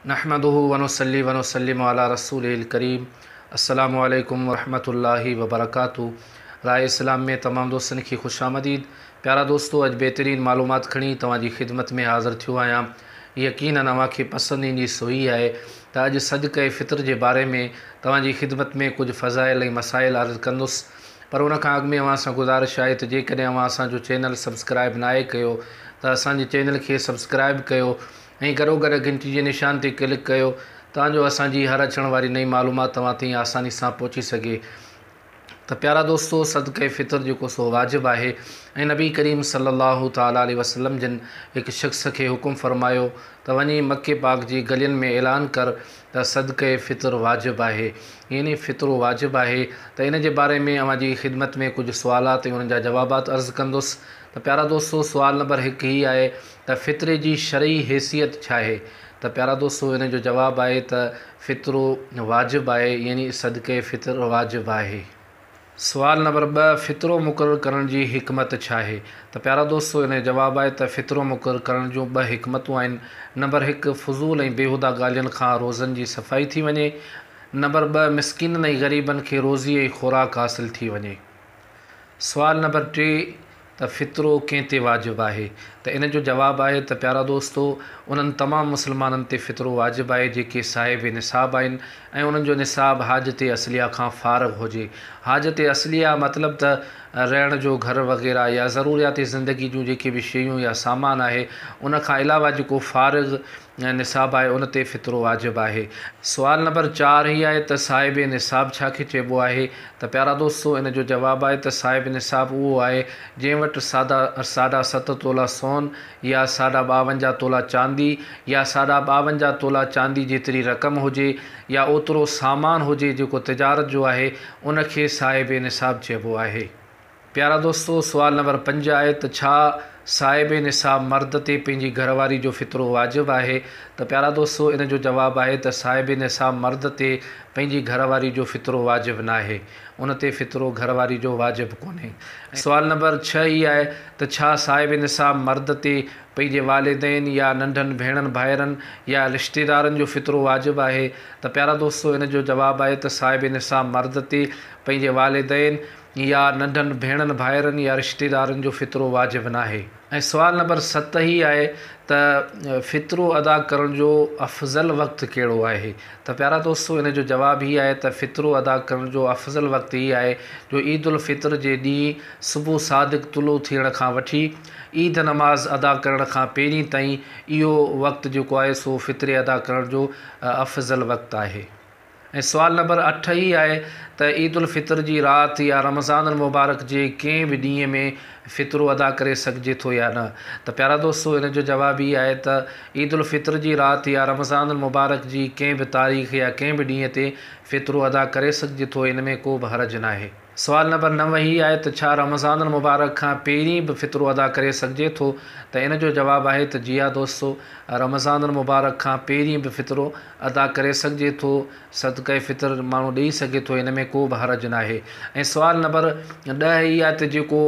نحمده ونصلي ونسلم علي رسوله الڪريم السلام عليڪم ورحمة الله وبرڪاته راء اسلام ۾ تمام دوستن کي خوش آمديد پيارا دوستو اڄ بهترين معلومات کڻي توهان جي خدمت ۾ حاضر ٿيو آهيان يقينن اوهان کي پسند ايندي سوئي آهي ته اڄ صدقه فطر جي باري ۾ توهان جي خدمت ۾ ڪجهه فضائل ۽ مسائل عرض ڪندس پر ان کان اڳ ۾ اوهان سان گذارش آهي ته جيڪڏهن اوهان اسان جو چينل سبسڪرائب ناهي ڪيو ته اسان جي چينل کي سبسڪرائب ڪيو ۽ گھروگھر گھنٽي جي نشان تي ڪلڪ ڪيو تان جو اسان جي ھر اچڻ واري نئين معلومات توھان تائين آساني سان پھچي سگھي ته پيارا دوستو صدقه فطر جيڪو سو واجب آھي ۽ نبي ڪريم صلي الله تعالٰي عليه وسلم جن ھڪ شخص کي حڪم فرمايو ته وڃي مڪي پاڪ جي گلين ۾ اعلان ڪر ته صدقه فطر واجب آھي يعني فطرو واجب آھي ته ان جي باري ۾ اوھان جي خدمت ۾ ڪجھ سوالات ۽ انھن جا جوابات عرض ڪندس ته پيارا دوستو سوال نمبر ھڪ ھي آھي ته فطري جي شرعي حيثيت ڇاهي؟ ته پيارا دوستو ان جو جواب آهي ته فطرو واجب آهي يعني صدقه فطر واجب آهي. سوال نمبر ٻه فطرو مقرر ڪرڻ جي حڪمت ڇاهي؟ ته پيارا دوستو ان جو جواب آهي ته فطرو مقرر ڪرڻ جون ٻه حڪمتون آهن نمبر هڪ فضول ۽ بيهوده ڳالهين کان روزن جي صفائي ٿي وڃي نمبر ٻه مسڪينن ۽ غريبن کي روزي ۽ خوراڪ حاصل ٿي وڃي سوال نمبر ٽي ته فطرو ڪنهن تي واجب آهي؟ ته ان جو جواب آهي ته پيارا دوستو! انهن تمام مسلمانن تي فطرو واجب آهي جيڪي صاحب نصاب آهن ۽ انهن جو نصاب حاجت اصليه کان فارغ هجي. حاجت اصليه مطلب ته رهڻ جو گهر وغيره يا ضروريات زندگي جون جيڪي به شيون يا سامان آهي ان کان علاوه جيڪو فارغ نصاب آهي ان تي فطرو واجب آهي. سوال نمبر چار هي آهي ته صاحب نصاب ڇا کي چئبو آهي ته پيارا دوستو ان جو جواب آهي ته صاحب نصاب اهو آهي جنهن وٽ ساڍا ساڍا ست تولا سون يا ساڍا ٻاونجاهه تولا چاندي يا ساڍا ٻاونجاهه تولا چاندي جيتري رقم هجي يا اوترو سامان هجي جيڪو تجارت جو آهي ان کي صاحب نصاب چئبو آهي. پيارا دوستو سوال نمبر پنج آهي ته ڇا صاحب نصاب مرد تي پنهنجي گهر واري جو فطرو واجب آهي ته پيارا دوستو ان جو جواب آهي ته صاحب نصاب مرد تي پنهنجي گهر واري جو فطرو واجب ناهي ان تي فطرو گهر واري جو واجب ڪونهي ۽ سوال نمبر ڇهه هي آهي ته ڇا صاحب نصاب مرد تي پنهنجي والدين يا ننڍن ڀيڻن ڀائرن يا رشتيدارن جو فطرو واجب آهي ته پيارا دوستو ان جو جواب آهي ته صاحب نصاب مرد تي پنهنجي والدين يا ننڍن ڀيڻن ڀائرن يا رشتيدارن جو فطرو واجب ناهي ۽ سوال نمبر ست هي آهي ته فطرو ادا ڪرڻ جو افضل وقت ڪهڙو آهي ته پيارا دوستو ان جو جواب هي آهي ته فطرو ادا ڪرڻ جو افضل وقت هي آهي جو عيد الفطر جي ڏينهن صبح صادق طلوع ٿيڻ کان وٺي عيد نماز ادا ڪرڻ کان پهرين تائين اهو وقت جيڪو آهي سو فطري ادا ڪرڻ جو افضل وقت آهي. ۽ سوال نمبر اٺ هي آهي ته عيد الفطر جي رات يا رمضان المبارڪ جي ڪنهن به ڏينهن ۾ فطرو ادا ڪري سگهجي ٿو يا نه؟ ته پيارا دوستو ان جو جواب هي آهي ته عيد الفطر جي رات يا رمضان المبارڪ جي ڪنهن به تاريخ يا ڪنهن به ڏينهن تي فطرو ادا ڪري سگهجي ٿو ان ۾ ڪو به حرج ناهي. سوال نمبر نو هي آهي ته ڇا رمضان المبارڪ کان پهرين به فطرو ادا ڪري سگهجي ٿو ته ان جو جواب آهي ته جي ها دوستو رمضان المبارڪ کان پهرين به فطرو ادا ڪري سگهجي ٿو صدقه فطر ماڻهو ڏئي سگهي ٿو ان ۾ ڪو به حرج ناهي ۽ سوال نمبر ڏهه هي آهي ته جيڪو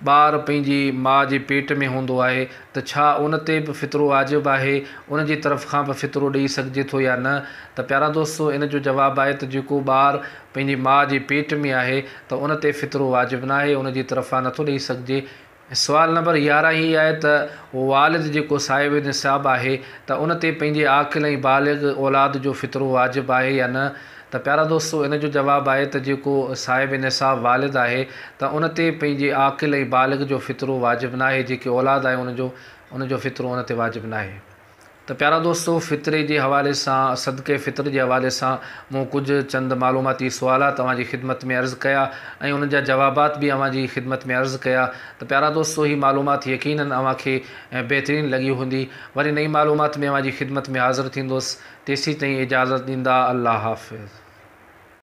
ٻار پنهنجي ماء جي پيٽ ۾ هوندو آهي ته ڇا ان تي به فطرو واجب آهي، ان جي طرف کان به فطرو ڏيئي سگهجي ٿو يا نه؟ ته پيارا دوستو ان جو جواب آهي ته جيڪو ٻار پنهنجي ماء جي پيٽ ۾ آهي ته ان تي فطرو واجب ناهي، ان جي طرفان نٿو ڏيئي سگهجي. سوال نمبر يارهن هي آهي ته اهو والد جيڪو صاحب النصاب آهي ته ان تي پنهنجي عاقل ۽ بالغ اولاد جو فطرو واجب آهي يا نه؟ ته پيارا دوستو ان جو جواب آهي ته جيڪو صاحب نصاب والد آهي ته ان تي پنهنجي عاقل ۽ بالغ جو فطرو واجب ناهي جيڪي اولاد آهي ان جو ان جو فطرو ان تي واجب ناهي ته پيارا دوستو فطري جي حوالي سان صدقه فطر جي حوالي سان مون ڪجهه چند معلوماتي سوالات اوهان جي خدمت ۾ عرض ڪيا ۽ انهن جا جوابات به اوهان جي خدمت ۾ عرض ڪيا ته پيارا دوستو هي معلومات يقينن اوهان کي بهترين لڳي هوندي وري نئين معلومات ۾ اوهان جي خدمت ۾ حاضر ٿيندس تيسين تائين اجازت ڏيندا الله حافظ.